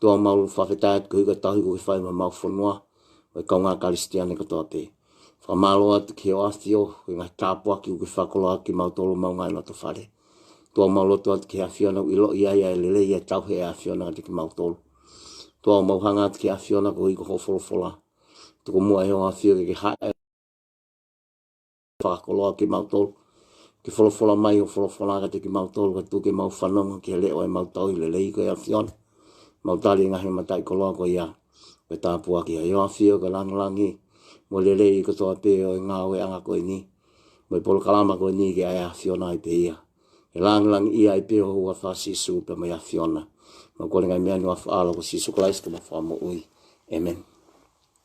Toa maru whawhetai atu ki huka tahu koe whai ma mau whanua, koe kaunga karistiane katoa te. Whamaro atu ki heo awhio, koe ngā tāpua ki uke whakolo atu ki mau toro mau ngai no to whare. Toa mau loto atu ki hea whiona ui lo ia ia e lele ia tau he ea whiona ngate ki mau toro. Toa mau hanga atu ki hea whiona ko hui ko hofolo fola. Toko mua heo awhio ke ke hae. Whakakoloa ki mau tolu. Ki wholofola mai o wholofola agate ki mau tolu ka tuke mau whanonga ki he leo e mau tau i le lei koe a Fiona. Mau tali i ngahi matai koloa koe ia. Koe tāpua ki a Ioa Fio ka langalangi. Mo le lei i katoa pē o e ngā oe anga koe ni. Mo e polo kalama koe ni ki a ea Fiona i pē ia. E langalangi ia i pē o hua wha Sisu pē mai a Fiona. Mo kore ngai mea ni wa wha ala ko Sisu Christ ka mo wha mo ui. Amen.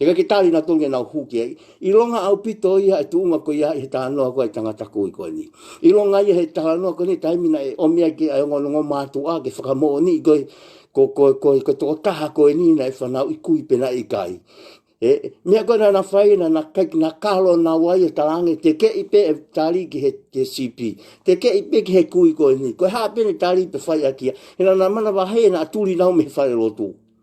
Te kake tāri nā tōngi nā hūkia. I ronga au pito ia e tūnga ko ia he taha noa koe e tanga tako i koe ni. I ronga ia he taha noa koe ni taimina e omia ki ai ongo nongo mātu a ke whakamoo ni i koe ko koe koe ko tō taha koe ni na e whanau i kui pena i kai. E, mea koe nā whai na nā kai nā kālo nā wai e tarange te ke i pe e tāri ki he te CP. Te ke i pe ki he kui koe ni. Koe hāpene tāri pe whai a kia. Hena nā mana wahei na tūri nau me whare lotu.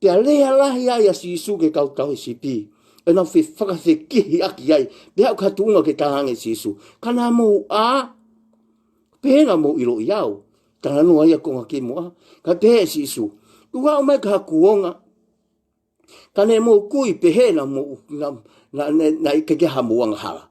Kia reha rahi ai a Sisu ke kau tau CP, e nau whi whakase kihi aki ai, te hau ka tuunga ke tahange Sisu, ka nā mou a, pēna mou iro i au, ka nanu ai a konga ki mua, ka te he Sisu, tu hau mai ka haku onga, ka ne mou kui pehena mou, na, na, na, na, na, na, na, na, na, na, na,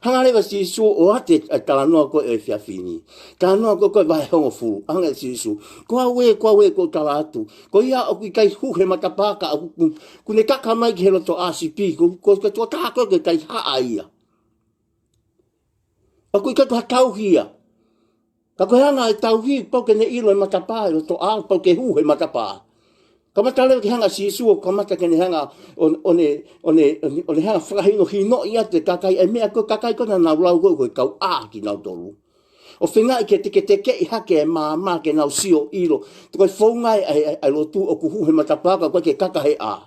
Hangare ga si su o ate kala no ko e fia fini. Kala no ko ko vai hongo fu. Hangare si su. Ko a we ko a we ko kala atu. Ko ia o kui kai hu he matapa ka aku ku. Ku ne kaka mai ki he loto a si pi. Ko ko ko tua kaka ko kai ha a ia. Aku kai kau hia. Ka kohe ana e Tauhi, Poke ne ilo e matapa e roto a, poke hu he matapa. Ka mata leo ki hanga si Yesu o ka mata kene hanga o, o ne, o ne, o ne hanga whakahino hi no i atu e kakai e mea koe kakai kona nau lau koe koe kau a ki nau toru. O whenga i ke te ke te ke i hake e mā mā ke nau sio ilo, te koe whongai ai, ai, ai lo tu o kuhu he matapa ka koe ke kakahe a.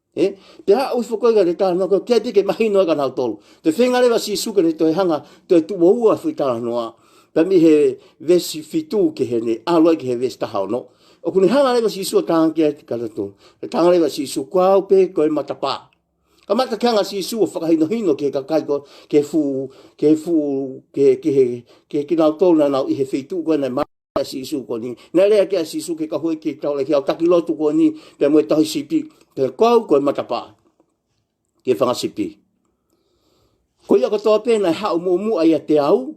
E, te haa ui whakoiga re kaa noko kia te ke mahi noa ka nao tolu. Te whenga rewa si suka re toi hanga toi tu wa ua fui kaa noa. Ta mi he ves fitu ke he ne aloi ke he ves taha no. O kuni hanga rewa si sua kaa kia te kata tu. Te kaa rewa si su kua upe koi matapa. Ka mata kia nga si sua whakahino hino ke ka kai ko ke fu ke fu ke ke he ke ke nao tolu na nao i he fitu kua na si su ko ni na le ke si su ke ka hoi ki ta le ki ta ki lo tu ko ni pe mo ta si pi ke ko ko ma ta pa ke fa si pi ko ya ko to pe na ha mo mu ai te au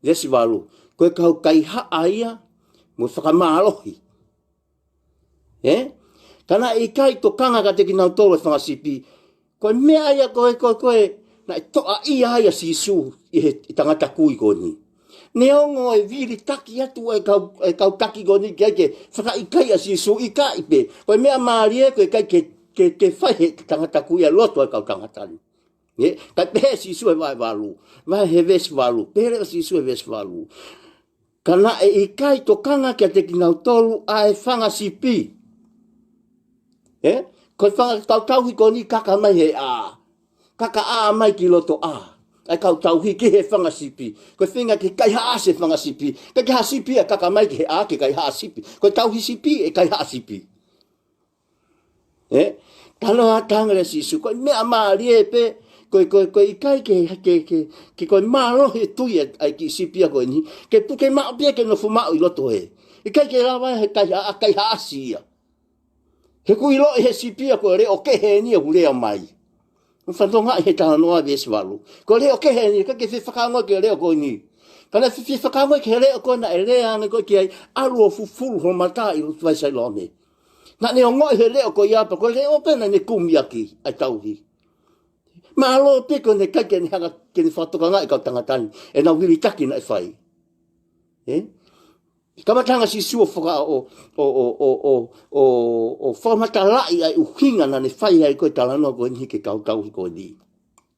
le si valu ko ka kai ha ai mo fa ka ma lo hi Eh? Kana i kai to kanga ka teki nau tolo whanga sipi. Koe mea ai a koe, koe, koe, na e toa i ai a si su i he i tangata kui ko ni. Ne ongo e viri taki atu e kau, e kau taki ko ni kia ke whaka i kai a si su i ka i pe. Koe mea maari e koe kai ke, ke, ke whai he tangata kui a loto e kau tangata ni. Ye, kai pe si su e vai valu, vai he ves valu, pe re si su e ves valu. Ka na e i kai to kanga kia te kingau tolu a e whanga si pi. E? Koi whanga ki tau tauhi ko ni kaka mai he a. Kaka a mai ki loto a. Ai kau tauhi ki he whanga si pi. Koi whinga ki kai haa se whanga si pi. Kai ki haa si pi a kaka mai ki he a ki kai haa si pi. Koi tauhi si pi e kai haa si pi. E, talo a tāngare si su, koe mea māri e pe, koe koe koe i kai ke, ke, ke, ke koe māro he tui e, ai ki sipia koe ni, ke puke mao pia ke nofu mao i loto e. I kai ke rawa he kai, a kai haasi ia. He kui lo he sipia koe re o ke he ni e hurea mai. Ko whanto ngai he tāna noa vi esivalu. Ko reo ke he ni, ka ke whi whakangoi ke reo koe ni. Ka na whi whakangoi ke reo koe na e rea ane koe ki ai, alu o fufuru ho mata i rutu ai sai lo nei. Nani o ngoi he leo ko iapa ko leo pena ni kumiaki ai tauhi. Ma alo piko ne kai ke ni hanga ke ni whatoka ngai ka tanga tani e na wili taki na e whai. Eh? Kama tanga si suo whaka o o o o o o o whamata lai ai uhinga na ne whai ai koe tala no koe ni ke kau tauhi koe ni.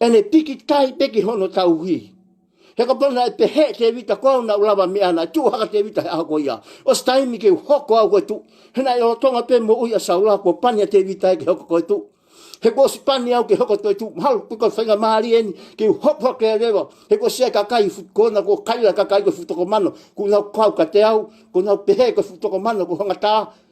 Ene piki tai peki hono tau hui. He ka pona e pe he te vita kua una ulava me ana tu haka te vita he aha ko ia. O stai mi ke hoko au ko tu. He na yo tonga pe mo uia sa ula ko pania te vita e ke hoko ko tu. He ko si pania au ke hoko to tu. Mahalo ku ka whenga maari eni ke hoko ke rewa. He ko sia ka kai fut ko na ko kai la ka kai ko fut ko mano. Ku na kau ka te au ko na pe he ko fut ko mano ko hanga ta.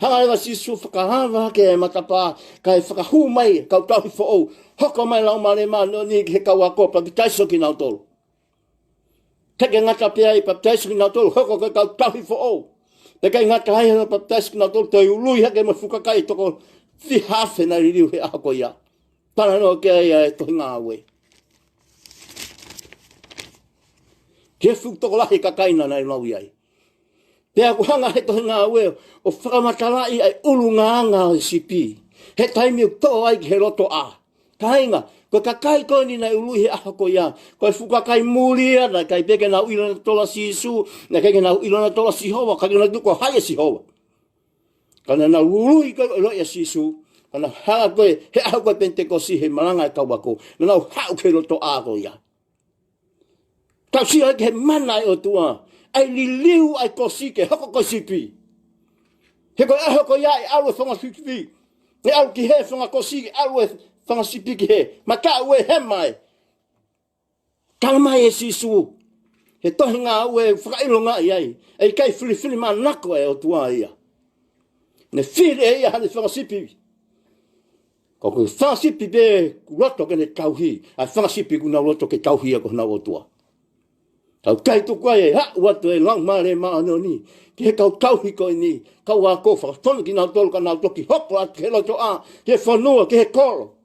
Hangai wa Jisu whakahānga hake e matapā, kai whakahū mai, kau tahi fo ou, hoko mai lau mare mā no ni ki he kaua kō papitaiso ki nau tolu. Take ngata pia i papitaiso ki nau tolu, hoko kai kau tahi fo ou. Te kai ngata hai hana papitaiso ki nau tolu, toi ului hake mo fukakai toko fi hafe na ririu he ahako ia. Tana no ke ai e tohi ngā awe. Ke fuk toko lahi ka kaina na i mau iai. Te ako hanga he tohe ngā weo o whakamatalai ai ulu ngā ngā o SCP. He taimi o tō ai ki he roto a. Kainga, ko ka kai koe ni nei ulu he aha ko ia. Koe fuka kai muri ana, kai peke nau ilo na tola si isu, na keke nau ilo na tola si hova, kai na duko hai e si hova. Kana na ulu i koe ilo e si isu, kana hanga koe he aha koe pente ko si he maranga e kawako, na nau hau ke roto a ko ia. Ka si ai ke mana e o tua, ai li liu ai ko si ke hoko ko si pi. He ko aho ko ia e alu e whanga si pi, e alu ki he whanga ko si alu e whanga si pi ki he, ma ka ue he mai. Tala mai e si su, he tohi ngā au e whakailo ngā i ai, e kai whiri whiri mā nako e o tua ia. Ne whiri e ia hane whanga si pi. Ko ke whasipi be ku roto ke ne kauhi, a whasipi ku na roto ke kauhi ko na otua. Kau kai tu kwa e ha wa to e lang ma le ma no ni. Ke kau kauhi ko ni, kau wa ko fa ton ki na tol ka na toki hop wa ke lo to a, ke fa no ke he kolo.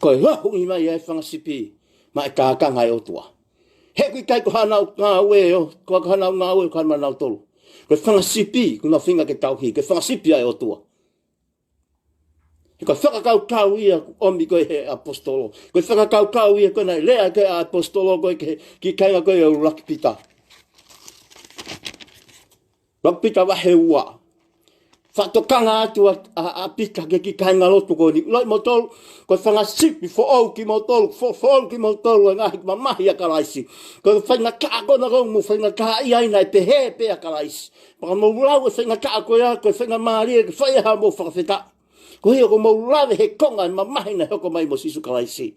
Ko e lahu i mai e whasipi ma e ka ka ngai otua. He kui kai ko hana o ngā ue o, ko hana o ngā ue o karma nao tolu. Ko e whangasipi, ko ngā whinga ke tau ki, ko e whangasipi ai o tua. He ko whakakau kau ia omi koe he apostolo. Ko e whakakau kau ia koe nei, lea ke apostolo koe ke, ki kainga koe e uru lakipita. Ka pita wahe ua. Ka tokanga atu a, a, a pita ke ki kainga roto ko ni. Ulai mo tolu, ko whanga sipi, fo au ki mo tolu, fo, fo au ki mo tolu, e ngahi ki ma mahi a karaisi. Ko whainga kaa kona kau mo whainga kaa i aina e pe he pe a karaisi. Paka mo ulau e whainga kaa koe a koe whainga maari e ke whai aha mo whakawheta. Ko hia ko mo ulau e he konga e ma mahi na hoko mai mo sisu karaisi.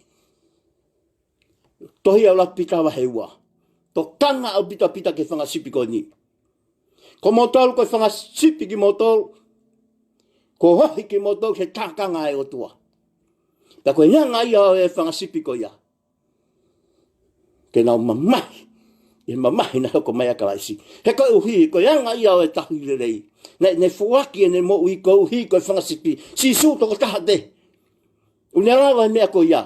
Tohi au rapi tawa he ua. To kanga au pita pita ke whanga sipi koe ni. Ko motor koe whanga sipi ki motor. Ko hohi ki motor he takanga e o tua. Ta koe nga nga ia e whanga sipi koe ia. Ke nao mamahi. E mamahi na hoko mai a karaisi. He koe uhi, koe anga ia e tahi rerei. Ne, ne fuaki e ne mo ui koe uhi koe whanga sipi. Si su toko taha te. Unera vai mea koe ia.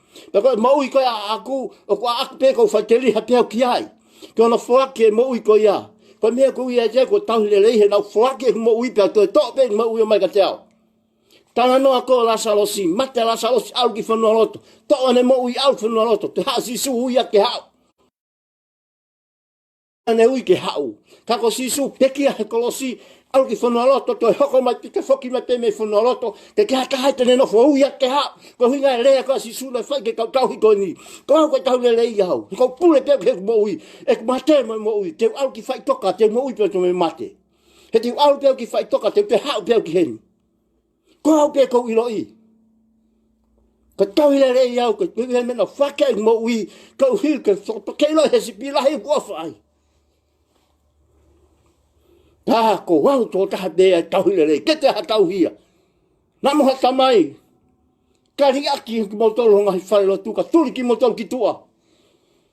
Pe koe mau i koe a aku, o kua aku pe koe whai te riha te au ki ai. Ki ona whaki e mau i koe ia. Koe mea koe ia ia koe tau le leihe nau whaki e mau i pia koe tō pe i mau i o mai ka te au. Tana noa koe Lasarosi, mate Lasarosi au ki whanua roto. Tō ane mau i au whanua roto, te hasi su ui a ke hau. Anei ui ke hau. Ka ko si su peki a he kolosi, au ki whanua loto, to e hoko mai ki te whoki mai tēnei whanua loto, te ke haka hai tēnei nofo ui a ke hau, ko hui ngai rea ka si su le whai ke kau tau hi koe ni, ko au koe tau le le i au, he kau pule teo ke mo ui, e ku mate mai mo ui, teo au ki whai toka, teo mo ui peo to me mate. He teo au peo ki whai toka, teo te hau peo ki henu. Ko au ke kou ilo i. Ka tauhia re i au, ka tauhia mena whakei mo ui, ka uhi, ka soto kei lo he sipi lahi hua whai. Tā ko wau tō taha te ai tauhia re, ke te ha tauhia. Nā moha tamai, ka ri aki ki mo tolu honga hi whare lotu, ka turi ki mo tolu ki tua.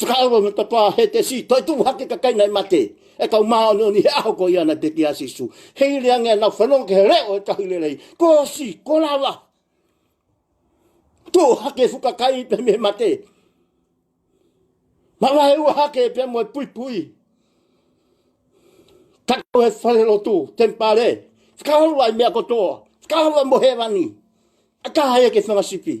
Whakaaro me te pā, he te si, toi tū hake ka kaina e mate, e kau māonioni he aho ko iana te ki a Sisu. Hei rea ngea nau whanonga ke he reo e kahu rerei, ko si, ko rawa. Tū hake fuka kai i pēmi he mate. Mama he ua hake e pēmi mo e pui pui. Takau he wharero tū, tempare. Whakaaro ai mea ko tō, whakaaro mo he rani. Aka hai e ke whangasipi.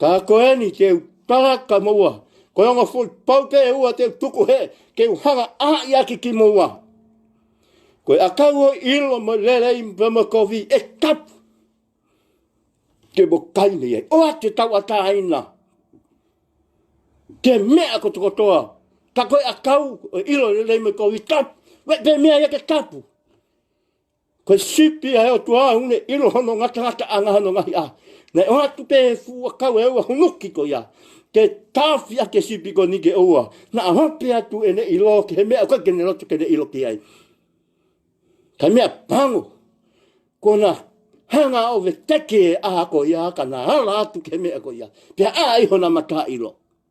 Ka ako e ni te utara ka moua. Ko rongo fo pau ke e ua te tuku he ke u hanga a i aki ki moua. Ko e akau o ilo mo lere i mpama kofi e kap. Ke mo kai ni e. O ate tau ata aina. Ke mea ko tuko toa. Ka koe akau o ilo lere i me kofi kap. Wet pe mea ia ke kapu. Kei Sipia e o tu a une i roho no ngata ngata a ngaha no ngahi a. Nei o atu ke e fua kau e ua hunuki ko ia. Ke tawhi a ke sipi ko ni ke oua. Na a hope atu e ne i lo ke he mea uka ke ne roto ke ne i lo ke ai. Ka mea pango. Ko na hanga o ve teke e a ko ia ka na hala atu ke mea ko ia. Pea a iho na mata i lo.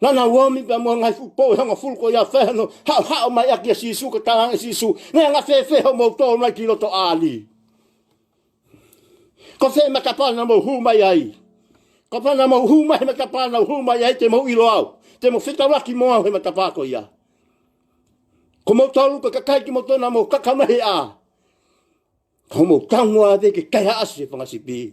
Nana wami pa mo ngai fu po hanga fu ko ya fe no ha ha ma ya ke si su ka ta si su ne nga fe fe ho mo to na ki lo to ali ko fe ma ka pa na mo hu mai ai ko pa na mo hu mai ma ka pa na hu mai ai te mo i lo au te mo fita wa ki mo au he ma ka pa ko ya ko mo to lu ka ka kai ki mo to na mo ka ka ma he a ko mo ka mo a de ke kai ha si fa si pi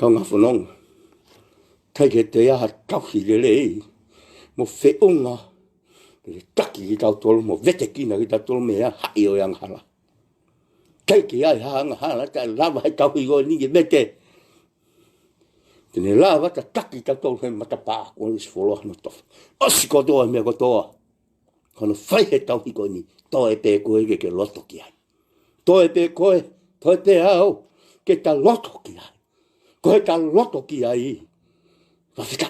Tana whanonga. Kei re te aha tawhi re re i, mo wheonga, re taki ki tau tolo, mo vete kina ki tau tolo, mea hai o yang hala. Kei ki ai ha ang hala, ta lava hai tawhi go ni ki vete. Tene lava ta taki tau tolo, he matapa, kua nisi wholo hana tof. Osi kotoa mea kotoa. Kono whai he tawhi go ni, to e pe koe ke ke loto ki ai. Toi te koe, toi te ao, ke ta loto ki ai. Koe ta loto ki ai, ka whika.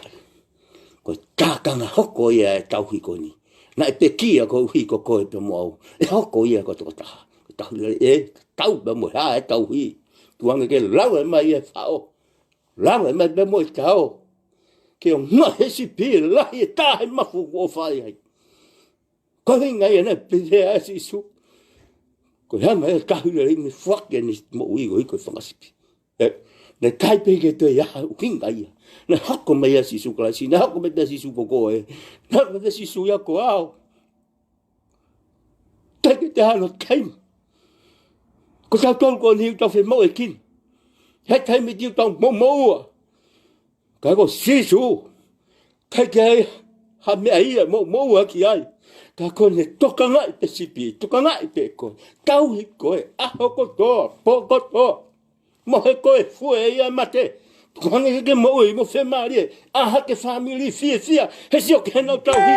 Koe tākanga hoko ia e tau hiko ni. Na e te kia ko uhi ko koe te moau. E hoko ia ko toko taha. Ko tahu ia e tau pe mo ha e tau hi. Tuanga ke lau e mai e whao. Lau e mai pe mo e tau. Ke o ngahe si pi lahi e tahe mafu o whai hai. Ka hinga i ana pere a Jesu. Ko hea mai ka hura i me whake ni mo ui ui ko whakasipi. E, ne kai pe ke te ia u hinga ia. Ne hako mai a Jesu Christ, ne hako mai a Jesu ko koe. Ne hako mai a Jesu ia ko au. Kai ke te hana kai. Ko sa tau ko ni uta fe mo e kin. Hei kai me di uta mo mo ua. Kai ko Jesu. Kai ko Jesu. Kai te ai, ha mea ia, mo, mo ua ki ai. Ka koe ne toka nga i te sipi, toka nga i te koe. Tau hi koe, aho ko to, po ko to. Mo he koe, fue ia mate. Kuhangi ke mo ui, mo fe marie. Aha ke family fie fia, he sio ke no tau hi.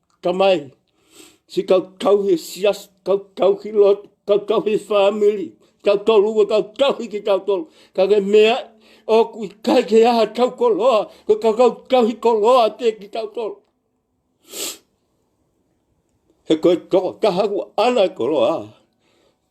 Ka mai, si kau kau he sias, kau kau ki lot, kau kau he whāmiri, kau kau rua, kau kau hiki kau tolu. Ka ke mea, o kui kai ke aha kau ko loa, ko kau kau kau hi ko loa te ki kau tolu. He koe toko kahau ana ko loa.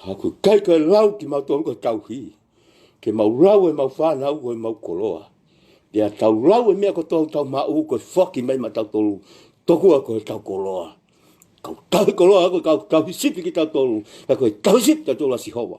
Tāku kai kai rau ki mau tōru kai tau hī. Ke mau rau e mau whānau koe mau koroa. Ke a tau rau e mea ko tōru tau mā ū koe whaki mai ma tau tōru. Toku a koe tau koroa. Kau tau koroa koe kau tau sipi ki tau tōru. Kau koe tau sipi tau tōru a Sihowa.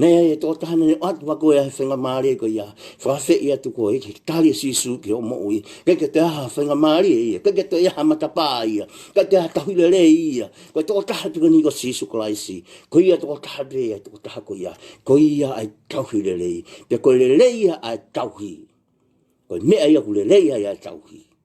Nei ai e tō tāne ne atu wako e ai whenga mārie ko ia. Whakawhe i atu ko e ki tāri e sīsū ki o mo ui. Kei ke te aha whenga mārie ia. Kei ke te aha matapā ia. Kei te aha tahurere ia. Ko e tō taha atu kani ko sīsū karaisi. Ko ia tō taha pē ai tō taha ko ia. Ko ia ai tauhi rerei. Pea ko rerei ia ai tauhi. Ko e mea ia ko rerei ai ai tauhi.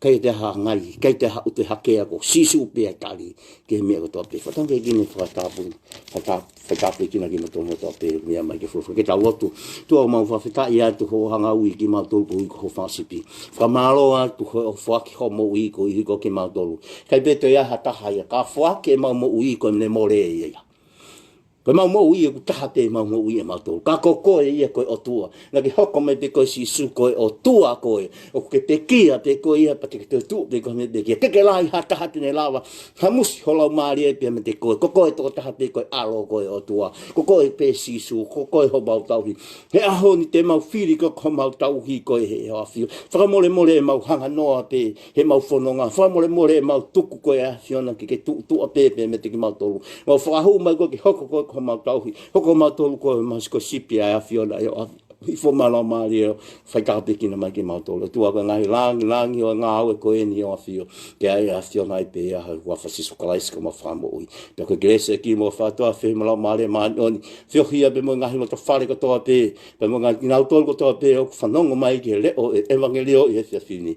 Kei te aha a Ngari, kei te aha o te hake a ko Sisu pea tari, ki he mea ko toa pē whata kei kino whakatāpuru, whata, whatāpekina ki roto mo toa pē mea mai ki whawha ke tau atu. Tua mau whawheta ia atu ho hanga ui ki mau toru ko Iko ho whasipi. Whakamāro atu ho whaki ho mo Iko i hiko ki mau toru. Kei pē toi aha taha ia, ka whake mau mo Iko me more ia ia. Koe mau mau ia ku taha te mau mau ia mau tolu. Ka ko koe ia koe o tua. Na ki hoko me te koe si su koe o tua koe. O ke te kia te koe ia pati ki te tu te koe me te kia. Keke la i ha taha tine lava. Ha musi ho lau maari e pia me te koe. Ko koe toko taha te koe alo koe o tua. Ko koe pe si su. Ko koe ho mau tauhi. He aho ni te mau firi ko ko mau tauhi koe he hoa fio. Whakamore more e mau hanga noa te. He mau whanonga whaimoremore e mau tuku koe a Siona ki ke tuutua pepe me te ki mau tolu. Kua whakahou mai koe ki hoko koe ko mau tauhi, hoko mau tolu koe e maus koe sipi ai a Fiona e o awhi, awhi fo mana o maari e o whai kapekina mai ki mau tolu. E tua koe ngahi langi, langi o e nga awe koe eni e o awhi o ke ai a Fiona i pe i ahau kua wha Sisu Karaisi ko mau wha mo ui. Pe koe Grace e ki mo wha to awhi he marau maari e maani oni, whiohi ia pe mo ngahi mo to whare ko to ape, pe mo ngahi ki ngau tolu ko to ape o ku whanongo mai ki he leo e evangelio i he whiawhini.